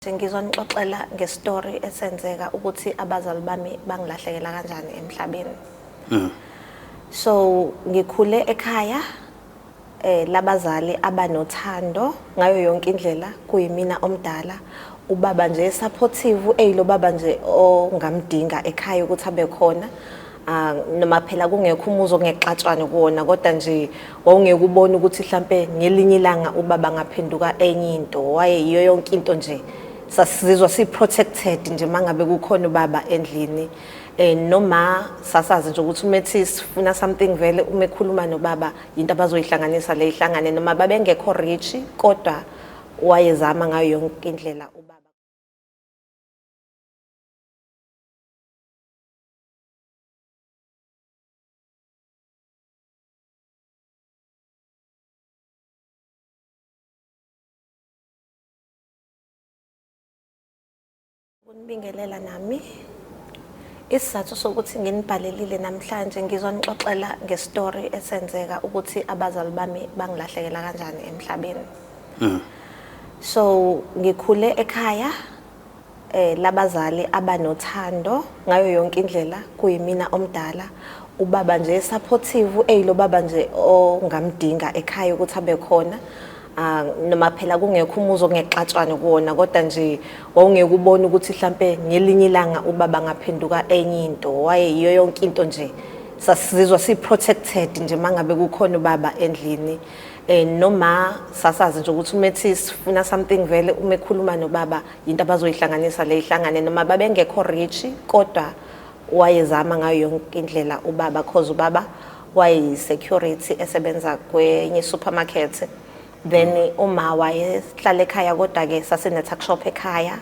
Ngizwa nixoxela ngestory esenzeka ukuthi abazali bami bangilahlekela kanjani emhlabeni. Mm. So ngikhule ekhaya eh labazali abanothando ngayo yonke indlela kuyimina omdala ubaba nje supportive eyiloba nje ongamdinga ekhaya ukuthi abe khona Ah, noma phela kungekho umuzi ongexatshwane kuwona kodwa nje wawungeke ubone ukuthi mhlampe ngelinye ilanga ubaba ngaphenduka enye into waye yiyo yonke into nje sasizizwa si-protected nje uma ngabe kukhona ubaba endlini um noma sasazi nje ukuthi umethi sifuna something vele uma ekhuluma nobaba yinto abazoyihlanganisa le ihlangane noma babengekho rich kodwa wayezama ngayo yonke indlela Ukunibingelela nami. Isizathu sokuthi nginibhalelile namhlanje ngizwa nixoxela ngestory esenzeka ukuthi abazali bami bangilahlekela kanjani emhlabeni. Mm. So ngikhule ekhaya eh labazali abanothando ngayo yonke indlela kuyimina omdala ubaba nje supportive eyilo baba nje ongamdinga ekhaya ukuthi abe khona ah, noma phela kungekho umuzi ongexatshwane kuwona kodwa nje wawungeke ubone ukuthi mhlampe ngelinye ilanga ubaba ngaphenduka enye into wayeyiyo yonke into nje sasizizwa si-protected nje uma ngabe kukhona ubaba endlini eh noma sasazi nje ukuthi umethi sifuna something vele uma ekhuluma nobaba into abazoyihlanganisa le ihlangane noma babengekho rich kodwa wayezama ngayo yonke indlela ubaba cause ubaba waye security esebenza kwenye supermarket then uma wayehlala ekhaya kodwa ke sasine tuck shop ekhaya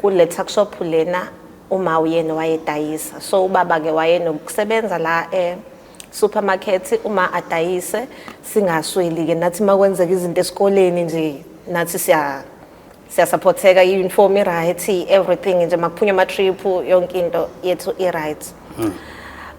kule tuck shop lena uma uyena wayedayisa so ubaba ke wayenokusebenza la eh supermarket uma adayise singasweli ke nathi makwenzeka izinto esikoleni nje nathi siya siyasupporteka i-uniform i-right everything nje makuphunywa ama-trip yonke into yethu i-right hmm.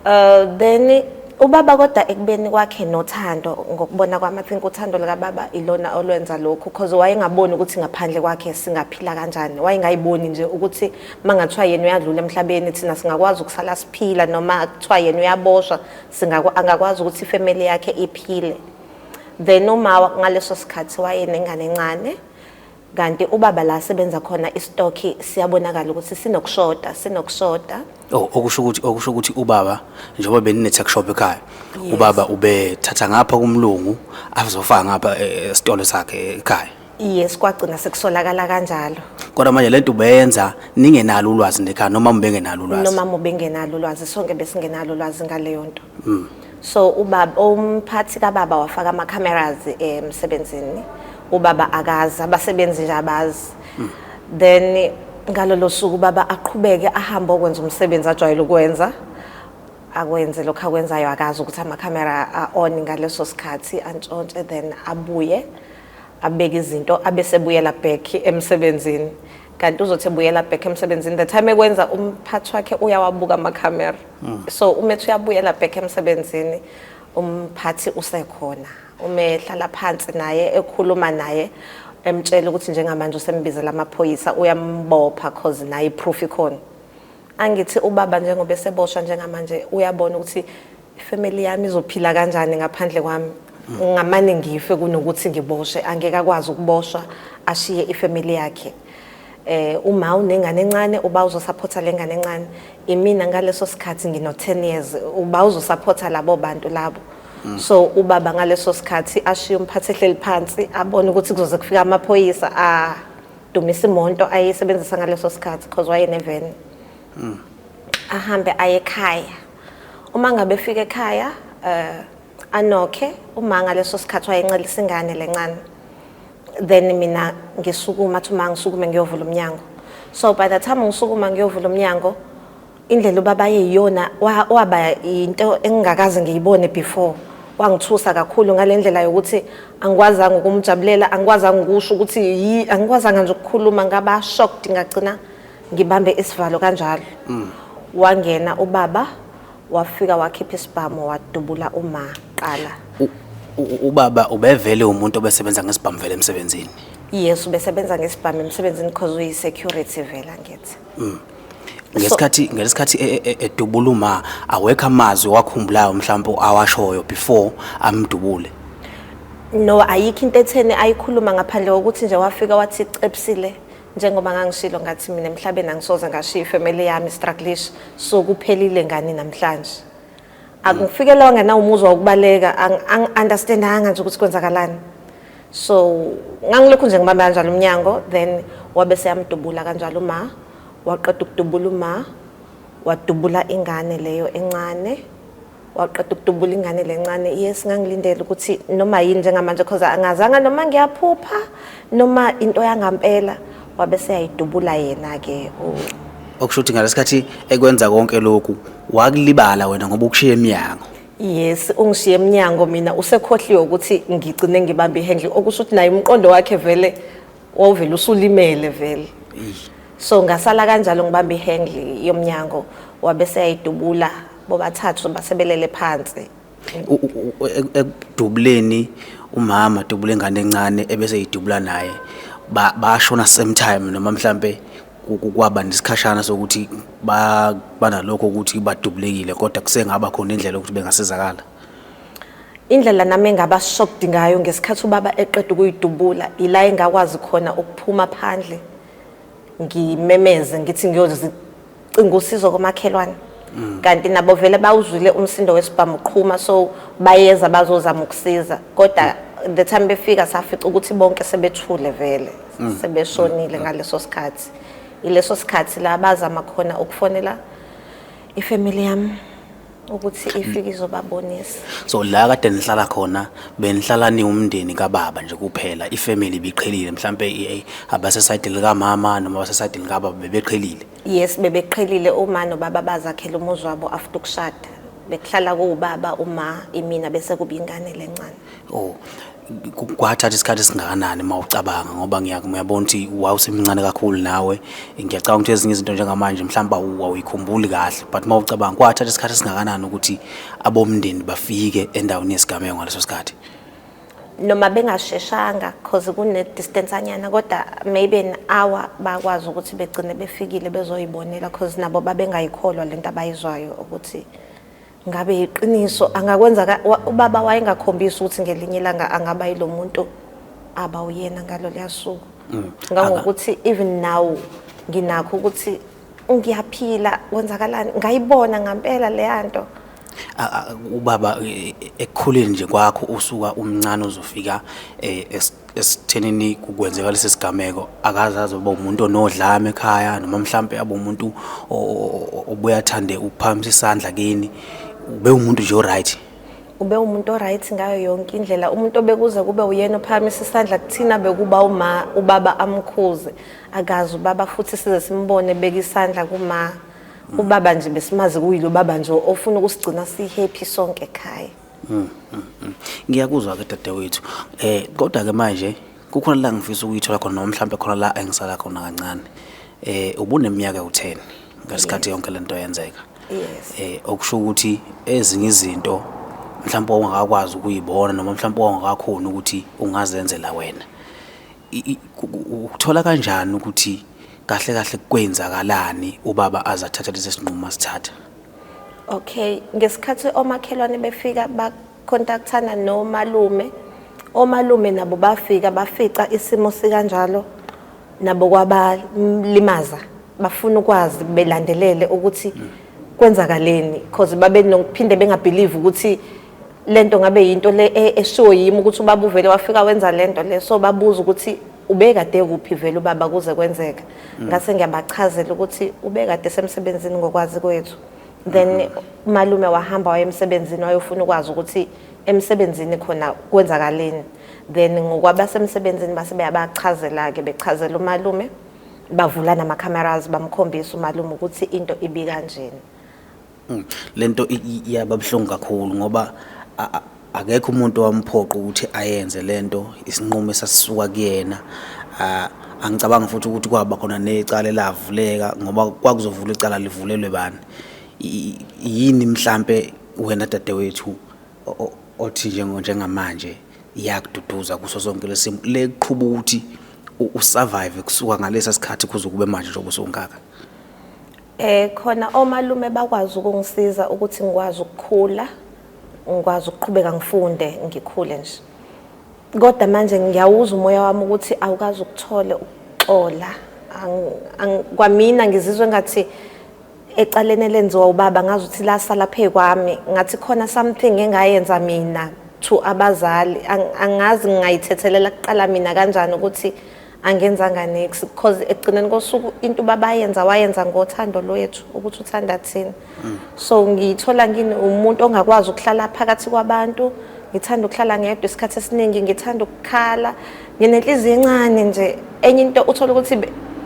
uh, then ubaba kodwa ekubeni kwakhe nothando ngokubona kwami i think uthando likababa ilona olwenza lokhu because wayengaboni ukuthi ngaphandle kwakhe singaphila kanjani wayengayiboni nje ukuthi uma ngathiwa yena uyadlula emhlabeni thina singakwazi ukusala siphila noma kuthiwa yena uyaboshwa angakwazi ukuthi ifamily yakhe iphile then uma ngaleso sikhathi wayenengane encane kanti ubaba la sebenza khona istoki siyabonakala ukuthi sinokushoda sinokushoda oh okusho ukuthi okusho ukuthi ubaba njengoba benine tech shop ekhaya ubaba ubethatha ngapha kumlungu azofaka ngapha esitolo eh, eh, sakhe ekhaya Yes kwagcina sekusolakala kanjalo. Kodwa manje lento ubeyenza ningenalo ulwazi nekhaya noma mubengenalo ulwazi. Noma mubengenalo ulwazi sonke besingenalo ulwazi ngaleyo nto. Mm. So ubaba umphathi kababa wafaka ama cameras emsebenzini. Ubaba akazi abasebenzi nje abazi. Mm. Then ngalolo suku baba aqhubeke ahambe okwenza umsebenzi ajwayele ukwenza akwenze lokho akwenzayo akazi ukuthi ama camera a on ngaleso sikhathi antshontshe then abuye abeke izinto abesebuyela back emsebenzini kanti uzothi ebuyela back emsebenzini the time ekwenza umphathi wakhe uyawabuka amakhamera mm. so uma ethi uyabuyela back emsebenzini umphathi usekhona uma ehlala phansi naye ekhuluma naye emtshela ukuthi njengamanje usembizela amaphoyisa uyambopha cause naye iproof ikhona angithi ubaba njengoba eseboshwa njengamanje uyabona ukuthi ifamily yami izophila kanjani ngaphandle kwami ngamane ngife kunokuthi ngiboshe angeke akwazi ukuboshwa ashiye ifamily yakhe eh uma unengane encane uba uzosupport lengane encane imina ngaleso sikhathi ngino 10 years uba uzosupport labo bantu labo mm. so ubaba ngaleso sikhathi ashiye umphathi ehleli phansi abone ukuthi kuzoze kufika amaphoyisa a dumisa imonto ayisebenzisa ngaleso sikhathi because waye neven mm. ahambe aye ekhaya Uma ngabe efika ekhaya eh anokhe uma ngaleso sikhathi wayencelisa ingane lencane then mina ngisukuma athi uma ngisukume ngiyovula umnyango so by the time ngisukuma ngiyovula umnyango indlela ubaba yeyona waba into engingakaze ngiyibone before wangithusa kakhulu ngalendlela yokuthi angikwazanga ukumjabulela angikwazanga ukusho ukuthi yi angikwazanga nje ukukhuluma ngaba shocked ngagcina ngibambe isivalo kanjalo mm. wangena ubaba wafika wakhipha isibhamu wadubula uma qala ubaba ubevele umuntu obesebenza ngesibhamu vele emsebenzini yes ubesebenza ngesibhamu emsebenzini because uyi security vela ngithi mm. ngesikhathi ngesikhathi e, e, e, edubula uma awekho amazwi wakhumbulayo mhlawumbe awashoyo before amdubule no ayikho into etheni ayikhuluma ngaphandle kokuthi nje wafika wathi cepsile njengoba ngangishilo ngathi mina emhlabeni angisoze ngashiya ifamily yami struggleish so kuphelile ngani namhlanje akufikelewa ngenawo umuzwa wokubaleka angi-understandanga nje ukuthi kwenzakalani so ngangilokhu nje ngibambe kanjalo umnyango then wabe seyamdubula kanjalo uma waqeda ukudubula uma wadubula ingane leyo encane waqeda ukudubula ingane lencane yes ngangilindele ukuthi noma yini njengamanje because angazanga noma ngiyaphupha noma into yangampela wabe seyayidubula yena ke okusho ukuthi ngalesikhathi ekwenza konke lokhu wakulibala wena ngoba ukushiya eminyango yes ungishiye eminyango mina usekhohliwe ukuthi ngigcine ngibambe ihandle okusho ukuthi naye umqondo wakhe vele wawuvele usulimele vele so ngasala kanjalo ngibamba ihandle yomnyango wabe seyayidubula bobathathu basebelele phansi U- u- u- ek- ekudubuleni umama adubule ingane encane ebese idubula naye ba- bashona same time noma mhlambe ku- ku- kwaba nesikhashana sokuthi ba- banalokho ukuthi badubulekile kodwa kusengaba khona indlela yokuthi bengasizakala Indlela nami engaba shocked ngayo ngesikhathi ubaba eqeda ukuyidubula ila engakwazi khona ukuphuma phandle ngimemeze ngithi ngiyozicinga usizo komakhelwane mm. kanti nabo vele bawuzwile umsindo wesibhamu qhuma so bayeza bazozama ukusiza kodwa mm. the time befika safica ukuthi bonke sebethule vele mm. sebeshonile ngaleso sikhathi ileso sikhathi la bazama khona ukufonela ifamily yami ukuthi ifike izobabonisa so la kade nihlala khona benihlala niwumndeni kababa nje kuphela ifamily biqhelile mhlambe eh, abasesayidi likamama noma abasesayidi likababa bebeqhelile yes bebeqhelile uma nobaba bazakhela umuzi wabo after ukushada bekuhlala kuwubaba uma imina bese kuba ingane lencane Oh, ku- kwathatha isikhathi esingakanani uma ucabanga ngoba ngiya- ngiyabona ukuthi wawusemncane kakhulu nawe ngiyacabanga ukuthi ezinye izinto njengamanje mhlawumbe awu- wawuyikhumbuli kahle but uma ucabanga kwathatha isikhathi esingakanani ukuthi abomndeni bafike endaweni yesigameko ngaleso sikhathi noma bengasheshanga cause kune distance anyana kodwa maybe an hour bakwazi ukuthi begcine befikile bezoyibonela cause nabo babengayikholwa lento abayizwayo ukuthi ngabe yiqiniso angakwenza ka- wa- ubaba wayengakhombisi ukuthi ngelinye ilanga angaba yilo muntu aba uyena ngalo liyasuku ngangokuthi even now nginakho ukuthi ngiyaphila kwenzakalani ngayibona ngampela leya nto A- a- ubaba eh, ekukhuleni nje kwakho usuka umncane uzofika eh, es- esithenini kukwenzeka lesi sigameko akaze aze uba umuntu onodlame ekhaya noma mhlampe abe umuntu obuye athande ukuphakamisa isandla kini ube umuntu nje oright ube umuntu oright ngayo yonke indlela umuntu obekuze kube uyena ophakamisa isandla kuthina bekuba uma ubaba amkhuze akazi ubaba futhi size simbone beka isandla kuma ubaba nje besimazi kuyilo baba nje ofuna ukusigcina sihappy sonke ekhaya Mm, mm, mm. Ngiyakuzwa ke dadewethu. Eh kodwa ke manje kukhona la ngifisa ukuyithola khona noma mhlawumbe khona la engisala khona kancane. Eh ubuneminyaka u10 ngesikhathi yonke lento yenzeka. Yes. Eh okusho ukuthi ezinye izinto mhlawumbe ongakakwazi ukuyibona noma mhlawumbe ongakakhona ukuthi ungazenzela wena. ukuthola kanjani ukuthi kahle kahle kwenzakalani ubaba azathatha lesi sinqumo asithatha okay ngesikhathi omakhelwane befika bakontakthana nomalume omalume nabo bafika bafica isimo sikanjalo nabo kwabalimaza bafuna ukwazi belandelele ukuthi kwenzakaleni because babe nokuphinde bengabelieve ukuthi lento ngabe yinto le e, eshiwo yimi ukuthi ubaba uvele wafika wenza lento le so babuza ukuthi ubekade kuphi vele ubaba kuze kwenzeka mm. ngase ngiyabachazela ukuthi ubekade semsebenzini ngokwazi kwethu then mm-hmm. malume wahamba waye emsebenzini wayofuna ukwazi ukuthi emsebenzini khona kwenzakaleni then ngokwabasemsebenzini base beyabachazela ke bechazela umalume bavula nama cameras bamkhombisa umalume ukuthi into ibi kanjena Mm, le nto iyaba buhlungu kakhulu ngoba akekho umuntu owamphoqa ukuthi ayenze le nto isinqumo esasisuka kuyena angicabanga futhi ukuthi kwaba khona necala elavuleka ngoba kwakuzovula icala livulelwe bani yini mhlampe wena dadewethu othi njengamanje iyakududuza kuso sonke lesimo leqhuba ukuthi usurvive kusuka ngalesa sikhathi kuze kube manje njengoba usungaka Eh khona omalume bakwazi ukungisiza ukuthi ngikwazi ukukhula, ngikwazi ukuqhubeka ngifunde ngikhule nje. Kodwa manje ngiyawuzwa umoya wami ukuthi awukazi ukuthole ukuxola. Kwamina ngizizwa engathi ecaleni elenziwa ubaba ngazi ukuthi lasala phekwami ngathi khona something engayenza mina to abazali angazi ngingayithethelela kuqala mina kanjani ukuthi angenzanga nix because ekugcineni kosuku into ubabayenza wayenza ngothando lwethu ukuthi uthanda thina mm. so ngiyithola ngini umuntu ongakwazi ukuhlala phakathi kwabantu ngithanda ukuhlala ngedwa isikhathi esiningi ngithanda ukukhala nginenhliziyo encane nje enye into uthola ukuthi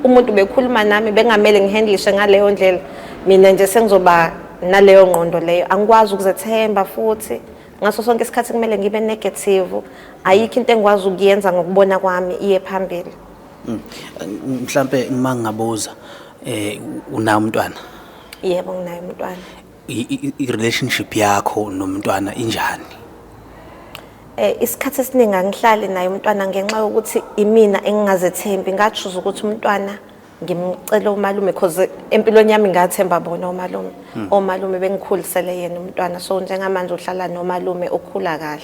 umuntu bekhuluma nami bengamele ngihandlishe ngaleyo ndlela mina nje sengizoba naleyo ngqondo leyo angikwazi ukuzethemba futhi ngaso sonke isikhathi kumele ngibe negative ayikho into engikwazi ukuyenza ngokubona kwami iye phambili mm. mhlambe uma ngingabuza eh unayo umntwana yebo nginayo umntwana i-relationship yakho nomntwana injani eh isikhathi esiningi angihlali naye umntwana ngenxa yokuthi imina engingazethembi ngachuza ukuthi umntwana ngimcele umalume cause empilweni yami ngathemba bona umalume hmm. omalume bengikhulisele yena umntwana so njengamanje uhlala nomalume ukhula kahle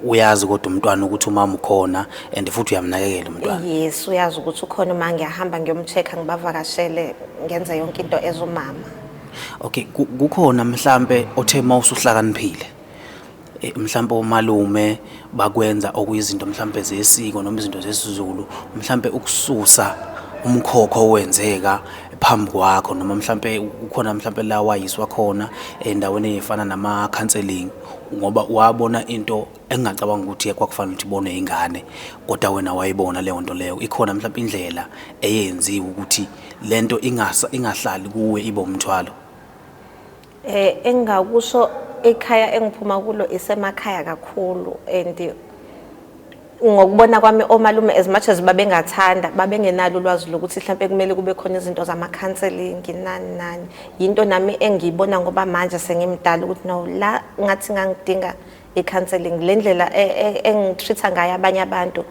uyazi kodwa umntwana ukuthi umama ukhona and futhi uyamnakekela umntwana yes uyazi ukuthi ukhona uma ngiyahamba ngiyomcheck ngibavakashele ngenze yonke into ezumama okay kukhona mhlambe othe uma usuhlakaniphile Eh, mhlawumpe omalume bakwenza okuyizinto mhlawumpe zesiko noma izinto zesiZulu mhlawumpe ukususa umkhokho owenzeka phambi kwakho noma mhlawumpe ukhona mhlawumpe la wayiswa khona endaweni efana nama-counseling ngoba wabona into engingacabanga ukuthi kwakufanele ukuthi ibonwe ingane kodwa wena wayibona leyo nto leyo ikhona mhlawumpe indlela eyenziwe ukuthi le nto ingahlali kuwe ibe umthwalo Eh engakusho ekhaya engiphuma kulo isemakhaya kakhulu and ngokubona kwami omalume as much as babengathanda babengenalo ulwazi lokuthi mhlawumbe kumele kube khona izinto zama-counseling nani nani yinto nami engiyibona ngoba manje sengimdala ukuthi no la ngathi ngangidinga i-counseling le ndlela e, e, engitreat-a ngayo abanye abantu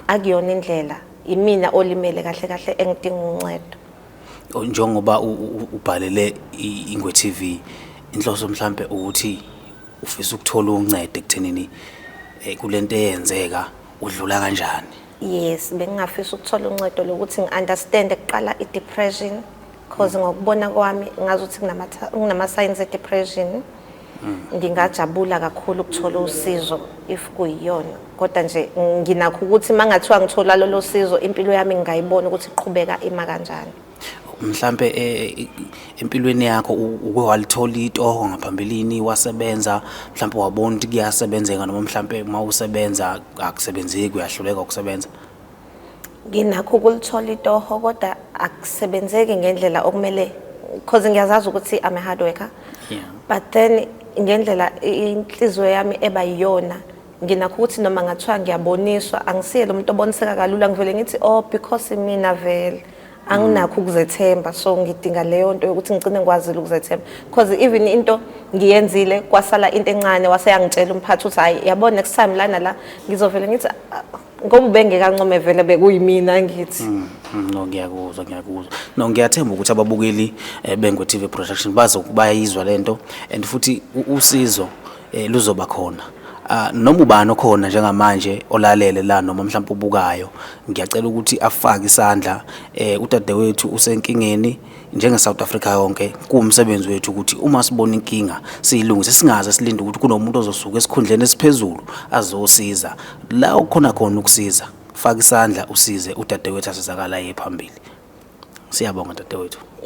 akuyona indlela imina olimele kahle kahle engidinga uncedo njengoba ubhalele ingwe TV inhloso mhlambe ukuthi ufisa ukuthola uncedo ekuthenini eh, kulento eyenzeka udlula kanjani yes bengingafisa ukuthola uncedo lokuthi ngi-understand kuqala i-depression cause ngokubona kwami ngazi ukuthi kunama-signs e-depression ngingajabula kakhulu ukuthola usizo if kuyiyona kodwa nje nginakho ukuthi uma ngathiwa ngithola lolo sizo impilo yami ngingayibona ukuthi iqhubeka ima kanjani mhlambe eh, empilweni yakho uke walithola itoho ngaphambilini wasebenza mhlambe wabona ukuthi kuyasebenzeka noma mhlambe uma usebenza akusebenzeki uyahluleka ukusebenza nginakho ukulithola itoho kodwa akusebenzeki ngendlela okumele because ngiyazazi ukuthi I'm a hard worker yeah. but then ngendlela inhliziyo yami eba yiyona nginakho ukuthi noma ngathiwa ngiyaboniswa angisiyele umuntu oboniseka kalula ngivele ngithi oh because mina vele anginakho ukuzethemba so ngidinga leyo nto yokuthi ngicine ngikwazile ukuzethemba because even into ngiyenzile kwasala into encane waseyangitshela umphathi ukuthi hayi yabona next time lana la ngizovele ngithi ngoba ubengeke ancome vele bekuyimina ngithi mm, mm, no ngiyakuzwa ngiyakuzwa no ngiyathemba ukuthi ababukeli eh, bengwe TV production bazokubayizwa lento and futhi usizo eh, luzoba khona ah, noma ubani okhona njengamanje olalele la noma mhlawumbe ubukayo ngiyacela ukuthi afake isandla eh udadewethu usenkingeni njenge-south africa yonke kuwumsebenzi wethu ukuthi uma sibona inkinga siyilungise singaze silinde ukuthi kunomuntu ozosuka esikhundleni esiphezulu azosiza la okukhona khona ukusiza faka isandla usize udadewethu asizakala aye phambili siyabonga dadewethu